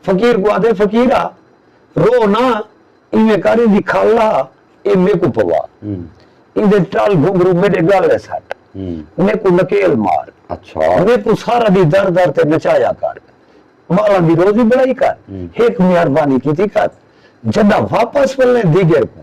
فقیر کوں آہدے فقیرا رو نہ ایویں کر ایندی کھل لا اے میکوں پوا ایندے ٹل گھنگرو میڈے گالے سٹ میکوں نکیل مار میکوں سارا ڈی در در تے نچایا کر بالاں دی روزی بنائی کر ہک مہربانی کیتی کر جڈاں واپس ولیں دیگر کوں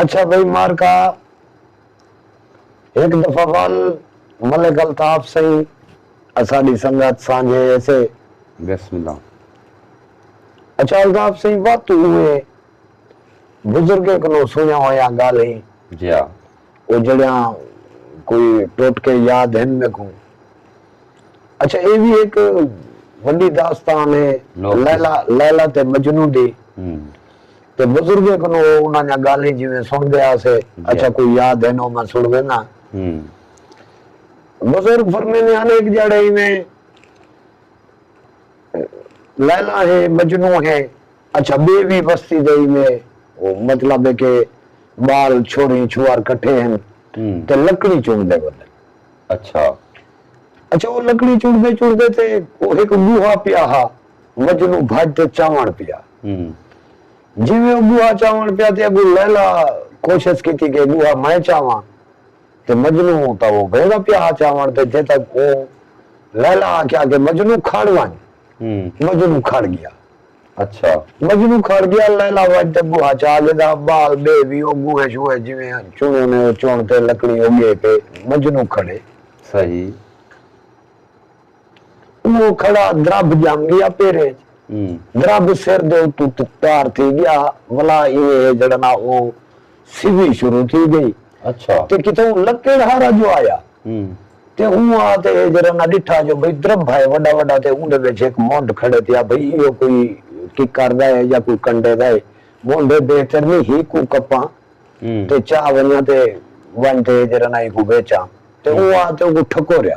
اچھا بھئی مارکا ہک دفعہ ول ملک الطاف سئیں اساݙی سنگت سانجھے ہیسے۔ بسم اللہ۔ اچھا الطاف سئیں وا توں اوہیں بزرگیں کنوں سنیاں ہویاں ڳالھیں جیا۔ او جڑیاں کوئی ٹوٹکے یاد ہن میکوں۔ اچھا اے وی ہک وݙی داستان ہے لیلا لیلا تے مجنوں دی۔ ہوں۔ تے بزرگیں کنوں او انہاں نیاں گالھیں جیویں سݨدے آسے اچھا کوئی یاد ہن او میں سݨ وینداں۔ بزرگ فرمیندے ہن ہک جھڑے ایویں لیلا ہے مجنوں ہے اچھا ٻے وی وستی دے ایویں او مطلب ہے کہ ٻال چھوہریں چھوہر کٹھے ہن تے لکڑی چݨدے وندن اچھا اچھا او لکڑی چݨدے چݨدے تے او ہک ڳوہا پیا ہا مجنوں بھڄ تے چاوݨ پیا۔ جیویں او بوہا چاون پیا تے اگوں لیلا کوشش کیتی کہ بوہا میں چاواں تے مجنوں تاں او ویندا پیا ہا چاون تے جے تک او لیلا آکھیا کہ مجنوں کھڑ ونج مجنوں کھڑ گیا اچھا مجنوں کھڑ گیا لیلا ونج تے بوہا چا گھدا بال بے وی او گوہے شوہے جیویں چنڑے نے او چنڑ تے لکڑی او گھے کے مجنوں کھڑے صحیح۔ اوہ کھڑا درب ڄم ڳیا پیریں اچ درب سر دے اتوں تار تھی ڳیا ولا ایویں ہے جیڑھا نہ او سوی شروع تھی ڳئی تے کتھوں لکڑ ہارا جو آیا تے اوں آ تے ہے جیڑھا نہ ݙٹھا جو بھئی درب ہے وݙا وݙا تے اوندے وچ ہک منڈھ کھڑے تھیا بھئی ایہو کوئی ککر دا ہے یا کوئی کنڈے دا ہے منڈھے بہتر نی ہی کوں کپاں تے چا ونڄاں تے ونڄ تے ہے جیڑھا نہ ایکوں ویچاں تے اوں آ تے اوکوں ٹھکوریا۔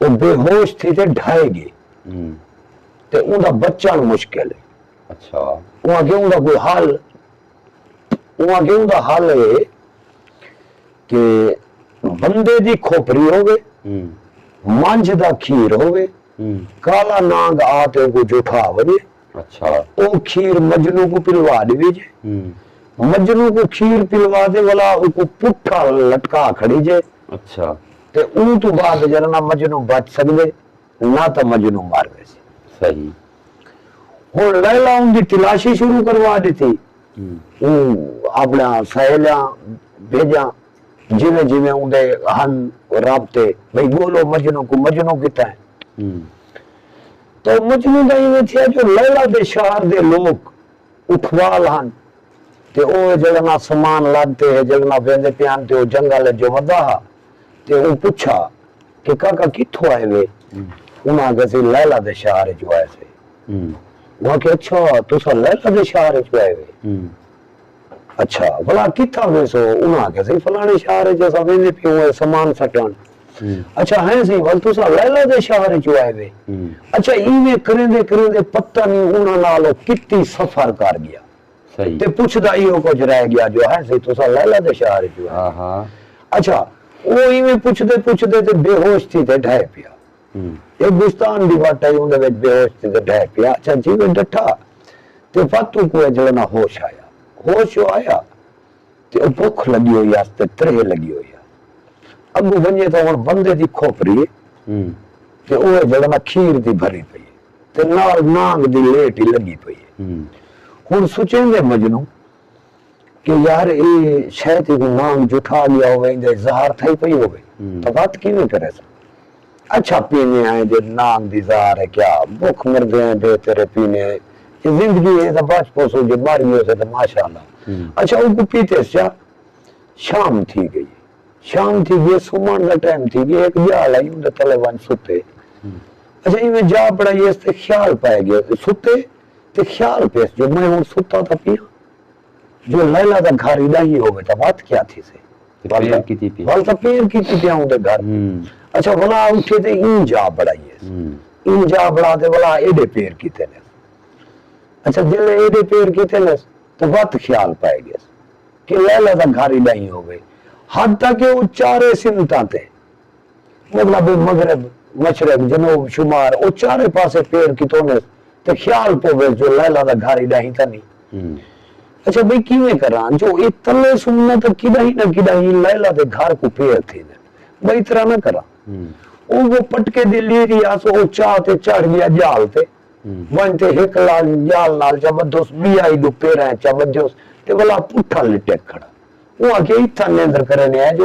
او بے ہوش تھی تے ڈھائے گی تے اوندا بچن مشکل ہے۔ اچھا۔ اوں آکھیا اوندا کوئی حل اوں آکھیا اوندا حل ہے کہ بندے دی کھوپری ہووے منجھ دا کھیر ہووے کالا نانگ آ تے اونکوں جوٹھا ونجے۔ اچھا او کھیر مجنوں کوں پلوا ڈیوے جے مجنوں کوں کھیر پلوا تے ولا اوکوں پٹھا لٹکا کھڑی جے اچھا تے اوں توں بعد جنا نہ مجنوں بچ سکدے نہ تاں مجنوں مر ویسی صحیح ہن لیلا اوں دی تلاشی شروع کروا ڈتی اوں اپنا سہیلیاں بھیجاں۔ جیویں جیویں اوندے ہن او رابطے بھئی ڳولو مجنوں کوں مجنوں کتھاں ہے تاں او مجنوں دا ایویں تھیا جو لیلا دے شہر دے لوک اٹھوال ہن تے او جلنا سمان لد تے ہے جلنا ویندے پئے ہن تے او جنگل اچ جو ودا ہا تے اوں پچھا کہ کاکا کتھوں آئے وے انہاں آکھیا سی لیلا دے شہر اچوں آئے سے اوں آکھیا اچھا تساں لیلا دے شہر اچوں آئے وے۔ اچھا بھلا کتھاں ویسو انہاں آکھیا سی فلانے شہر اچ اساں ویندے پیوں اے سامان سٹن اچھا ہیں سی ول تساں لیلا دے شہر اچ آئے وے اچھا ایویں کریندے کریندے پتہ نی انہاں نال او کتی سفر کر گیا تے پچھدا ایہو کچھ رہ گیا جو ہیں سی تساں لیلا دے شہر اچ آئے اچھا او ایویں پچھدے پچھدے تے بے ہوش تھی تے ڈھے پیا۔ ہندوستان دی وٹ آئی اوندے وچ بے ہوش تھی تے ڈھہہ پیا اچھا جی میں ڈٹھا تے وت اوکوں اے جلنا ہوش آیا ہوش جو آیا تے او بکھ لگی ہوئی ہس تے ترہے لگی ہوئی ہس اگوں ونجے تاں ہن بندے دی کھوپری اے تے او اے جلنا کھیر دی بھری پئی اے تے نال نانگ دی لیٹ ہی لگی پئی اے ہن سچیندے مجنوں کہ یار اے شے تے کوئی نانگ جٹھا گیا ہووے ایندا اظہار تھئی پئی ہووے تاں وت کیویں کریساں اچھا پینے آئیں دے نانگ دی زار ہے کیا بکھ مردے آئیں دے تیرے پینے آئیں اے زندگی ہے تاں بچ پوسوں جے مر گیوسے تاں ماشاء اللہ اچھا اوکوں پیتیس جا شام تھی گئی شام تھی گئی سمن دا ٹائم تھی گیا ہک ٻیا لائی اوندے تلے ونج ستے اچھا ایویں جا پڑھائیس تے خیال پائے گیا ستے تے خیال پیس جو میں ہن ستا تاں پیاں۔ جو لیلا دا گھر اڈاہی ہووے تاں وت کیا تھیسے۔ ول تاں پیر کیتی پیاں اوندے گھر۔ اچھا ولا اٹھے تے ایں جا بڑائیس۔ ایں جا بڑا تے ولا ایڈے پیر کیتے نیس۔ اچھا جیلے ایڈے پیر کیتے نیس تاں وت خیال پئے گیس کہ لیلا دا گھر اڈاہی ہووے۔ حد تاں کہ او چارے سمتاں تے۔ مغرب مغرب، مشرق، جنوب، شمار او چارے پاسے پھیر کیتونس تے خیال پوویس جو لیلا دا گھر ایڈاہیں تاں نی۔ اچھا بھئی کیویں کراں جو اے تلے سنگناں تاں کیڈاہیں نہ کیڈاہیں لیلا دے گھر کوں پھیر تھیندن۔ بھئی اترا نہ کراں۔ اوں وہ پٹکے دی لیری آس او چاہ تے چڑھ گیا جال تے۔ ونج تے ہک لال جال نال چا بدھوس بیا ایڈو پیرائیں چا بدھیوس تے ولا پٹھا لٹک کھڑا۔ اوں آکھیا اتھاں نیندر کرنیاں ہے جو۔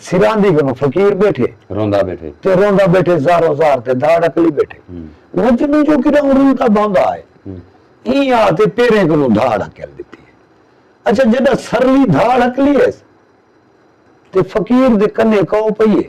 سراندی کنوں فقیر بیٹھے روندا بیٹھے تے روندا بیٹھے زارو زار تے دھاڑ اکلی بیٹھے وچ میں جو کدھا روندا باندا آئے این آ تے پیرے کنوں دھاڑ اکل دیتی ہے اچھا جدہ سرلی دھاڑ اکلی ہے تے فقیر دے کنے کہو پئیے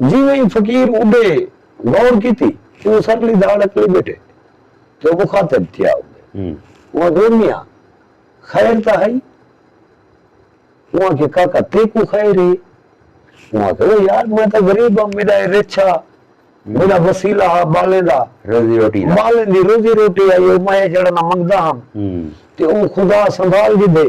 جیویں ای فقیر اڈے غور کیتی کہ او سرلی دھاڑ اکلے بیٹھے تے او مخاطب تھیا اڈے او آکھدے میاں خیر تاں ہئی او آکھے کاکا تیکوں خیر ہے او آکھے او یار میں تاں غریب ہاں میڈا اے رچھ ہا میڈا وسیلہ ہا بالیں دا بالیں دی روزی روٹی ہئی او میں اے جڑنا منگدا ہم تے او خدا سنبھال گھدے۔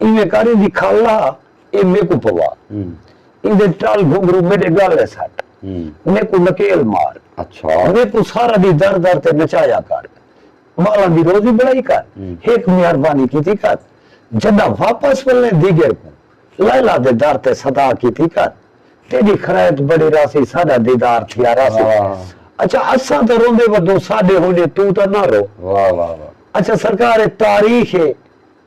ایویں کر ایندی کھل لا اے میکوں پوا ایندے ٹل گھنگھرو میڈے گالے سٹ میکوں نکیل مار میکوں سارا ڈی در در تے نچایا کر بالاں دی روزی بنائی کر ہک مہربانی کیتی کر جڈاں واپس ولیں دیگر کوں لیلا دے در تے سدا کیتی کر تیڈی خریت بڑی راسی ساڈا دیدار تھیا راسی اچھا اساں تاں روندے ودوں ساڈے ہونیں توں تاں نہ رو اچھا سرکار اے تاریخ اے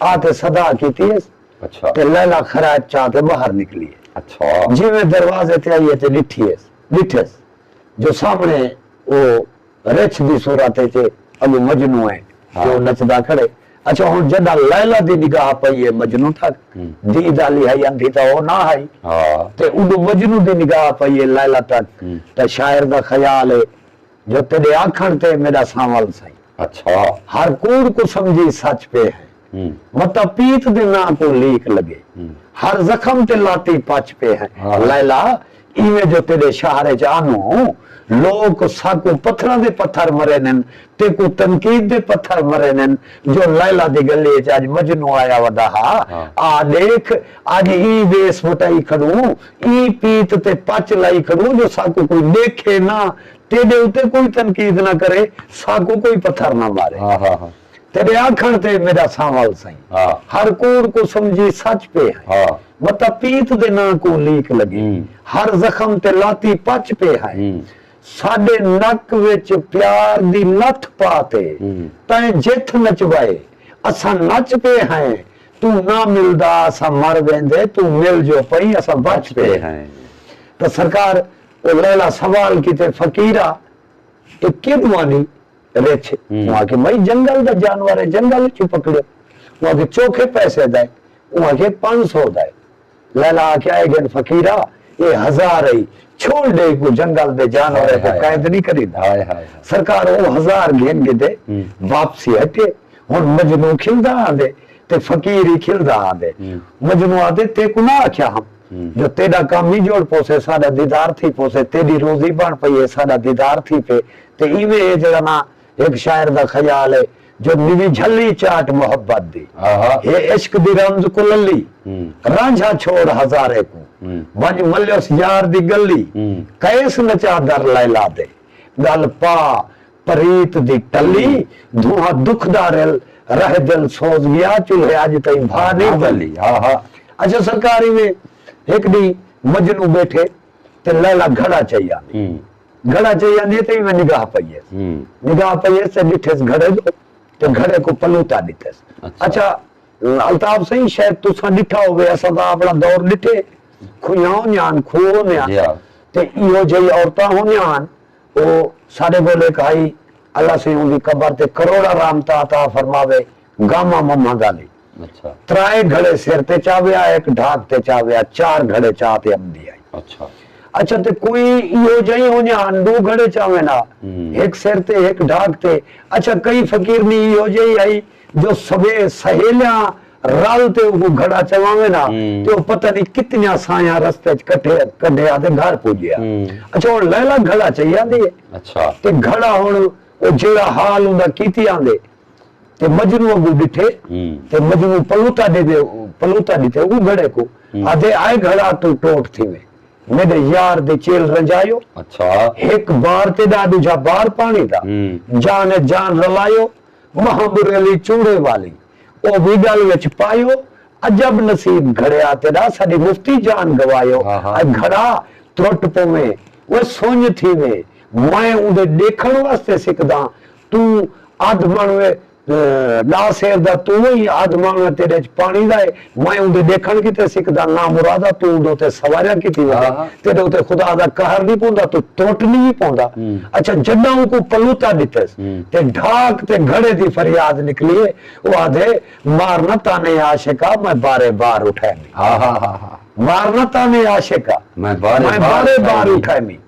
آتے صدا کیتی ہیس تے لیلا خراج چا تے باہر نکلی ہے جیویں دروازے تے آئی ہے تے ڈٹھی ہیس ڈٹھس جو سامنے او رچھ دی صورت اچ ہے اگوں مجنوں ہے جو نچدا کھڑے اچھا ہن جڈاں لیلا دی نگاہ پئی ہے مجنوں تھک دید آلی ہائی اندھی تاں او نہ ہائی تے اڈوں مجنوں دی نگاہ پئی ہے لیلا تک تاں شاعر دا خیال ہے جو تیݙے آکھݨ تے میݙا سانول سئیں۔ اچھا۔ ہر کوڑ کوں سمجھی سچ پئے ہیں۔ متاں پیت دے ناں کوں لیک لڳے۔ ہر زخم تے لاتی پچ پئے ہیں۔ لیلا ایویں جو تیݙے شہر اچ آنوں لوک ساکوں پتھراں دے پتھر مریندن تیکوں تنقید دے پتھر مریندن جو لیلا دی گلی اچ اڄ مجنوں آیا ودا ہا آ ݙیکھ اڄ ایں ویس وٹائی کھڑوں ایں پیت تے پچ لائی کھڑوں جو ساکوں کوئی ݙیکھے نہ، تیݙے اتے کوئی تنقید نہ کرے، ساکوں کوئی پتھر نہ مارے۔ تیݙے آکھݨ تے میݙا سانول سئیں، ہر کوڑ کوں سمجھی سچ پئے ہئیں۔ متاں پیت دے ناں کوں لیک لڳی، ہر زخم تے لاتی پچ پئے ہئیں۔ ساݙے نک وچ پیار دی لتھ پا تے تئیں جتھ نچوائے، اساں نچ پئے ہئیں توں نہ ملدا اساں مر ویندے توں مل جو پئیں اساں بچ پئے ہیں تاں سرکار او لیلا سوال کیتے فقیرا اے کیدوں آنی رچھ اوں آکھے بھئی جنگل دا جانور ہے جنگل اچوں پکڑیو اوں آکھے چوکھے پیسے دا ہے اوں آکھے پنج سو دا ہے لیلا آکھیا اے گھن فقیرا اے ہزار ای چھول ڈے کوں جنگل دے جانور ء کوں قید نی کریندا سرکار او ہزار گھن گھدے واپسی ہٹے ہن مجنوں کھلدا آندے تے فقیر ای کھلدا آندے مجنوں آدے تیکوں نہ آکھیا ہم جو تیڈا کم ای جوڑ پوسے ساڈا دیدار تھی پوسے تیڈی روزی بن پئی اے ساڈا دیدار تھی پے تے ایویں اے جیڑھا نہ ہک شاعر دا خیال ہے جو نوی جھلی چاٹ محبت دی ہے عشق دی رمز کللی رانجھا چھوڑ ہزارے کوں ونج ملیس یار دی گلی کئیس نچا در لیلا دے گل پا پریت دی ٹلی دھواں دکھ دا رل رہ دل سوز گیا چولھے اج تئیں بھا نی بلی اچھا سرکار ایویں ہک ڈینہہ مجنوں بیٹھے تے لیلا گھڑا چائی آندی گھڑا چئی آندی تے ایویں نگاہ پئی ہس نگاہ پئی ہس تے ڈٹھس گھڑے دو تے گھڑے کو پلوتا ڈتس اچھا الطاف سئیں شاید تساں ڈٹھا ہوے اساں تاں اپنا دور ڈٹھے کھویاں ہوندیاں ہن کھو ہوندیاں ہن تے ایہو جئی عورتاں ہوندیاں ہن او ساڈے کول ہک ہئی اللہ سئیں اوندی قبر تے کروڑاں رحمتاں عطا فرماوے گاماں ممہنگ آلی ترائے گھڑے سر تے چا ویا ہک ڈھاک تے چا ویا چار گھڑے چا تے امدی آئی اچھا اچھا تے کوئی ایو جائیں ہو جہاں دو گھڑے چا وینا ہک سر تے ہک ڈھاک تے اچھا کئی فقیر نہیں ایو جائی آئی جو سوے سہیلیاں رال تے وہ گھڑا چا وینا تے وہ پتہ نہیں کتنیاں سایاں رستے کٹھے کٹھے آتے گھر پوجیا اچھا وہ لیلہ گھڑا چاہیا دیئے اچھا تے گھڑا ہونو وہ جیڑا حال ہوں دا کیتی آندے تے مجنوں اگوں ڈٹھے تے مجنوں پلوتا ڈے دے پلوتا ڈتے اگوں گھڑے کو آدھے آئے گھڑا توں ٹوٹ تھی میں میڈے یار دے چیل رنجائیو ہک بار تے ڈا ڈوجھا بار پانی دا جان اے جان رلائیو مہاں برے لی چوڑے والی او وی گل وچ پائیو عجب نصیب گھڑیا تے ڈا ساڈی مفتی جان گوائیو آئے گھڑا ترٹ پویں اوئے سونج تھی میں میں اوندے ڈیکھن واسطے سکداں توں ادھ مانو اے ڈا سیر دا توں وہی ادھ مانو اے تیڈے اچ پانی دا اے میں اوندے ڈیکھن کیتے سکدا نامرادا توں اوندے اتے سواریاں کیتی وڈے تیڈے اتے خدا دا قہر نی پوندا توں ترٹ نی ہی پوندا اچھا جڈاں اوکوں پلوتا ڈتیس تے ڈھاک تے گھڑے دی فریاد نکلی اے او آدھے مار نہ تانے عاشقا میں بارے بار اٹھائمی مار نہ تانے عاشقا میں بارے بار اٹھائمی۔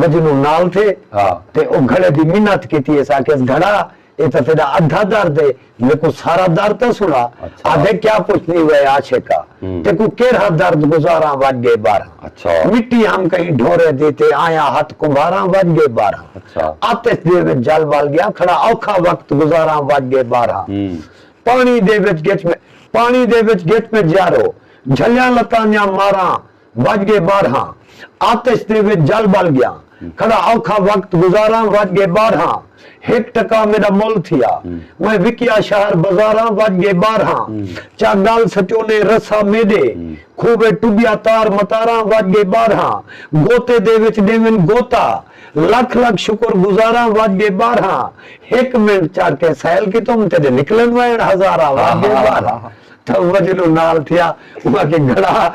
مجنوں نال تھے تے او گھڑے دی منت کیتی ایس آکھیس گھڑا اے تاں تیڈا ادھا درد اے میکوں سارا درد تاں سنا آدھے کیا پچھدی وے عاشقا تیکوں کیرھا درد گزاراں وج گئے بارھاں مٹی ہم کہیں ڈھورے دی تے آیاں ہتھ کمبھاراں وج گئے بارھاں آتش دے وچ جل ول گیاں کھڑا اوکھا وقت گزاراں وج گئے بارھاں پانی دے وچ گچھ میں پانی دے وچ گچھ میں جیارو جھلیاں لتاں دیاں ماراں وج گئے بارہاں آتش دے وچ جل ٻل ڳیاں کھڑا اوکھا وقت گزاراں وج گئے بارہاں ہک ٹکا میݙا مل تھیا میں وکیا شہر بزاراں وج گئے بارہاں چا ڳل سٹیونے رسا میݙے کھووے ٹٻیا تار متاراں وج گئے بارہاں غوطے دے وچ ݙیون غوطہ لکھ لکھ شکر گزاراں وج گئے بارہاں ہک منٹ چا کئے سیل کیتم تیݙے نکلن وین ہزاراں وج گئے بارہاں۔ تاں اوہ جیݙوں نال تھیا اوہ آکھے گھڑا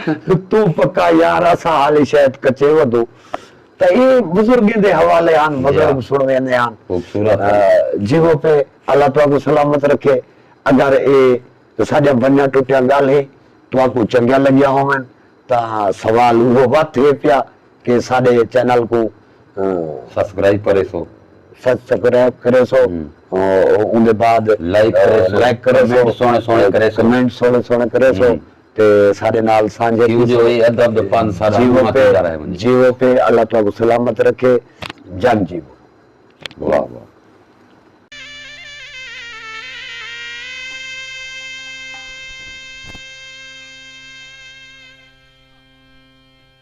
توں پکا یار اساں حالی شاید کچے ودوں تاں اے بزرگیں دے حوالے ہن بزرگ سن ویندے ہن جیہو پے اللہ تہاکوں سلامت رکھے اگر اے ساݙیاں بنیاں ٹٹیاں ڳالھیں تہاکوں چنگیاں لڳیاں ہوون تاں سوال اوہ وت ہے پیا کہ ساڈے چینل کوں سسکرائب کرے سو سسکرائب کرے سو اوندے بعد لائک کرے سو لائک کرے سو کمنٹ سونے سونے کرے سو کمنٹ سونے سونے کرے سو تے ساڈے نال سانجھے تھی سو ادب دے پن ساڈا جیو پے جیو پے اللہ تہاڈا کو سلامت رکھے جگ جیو واہ واہ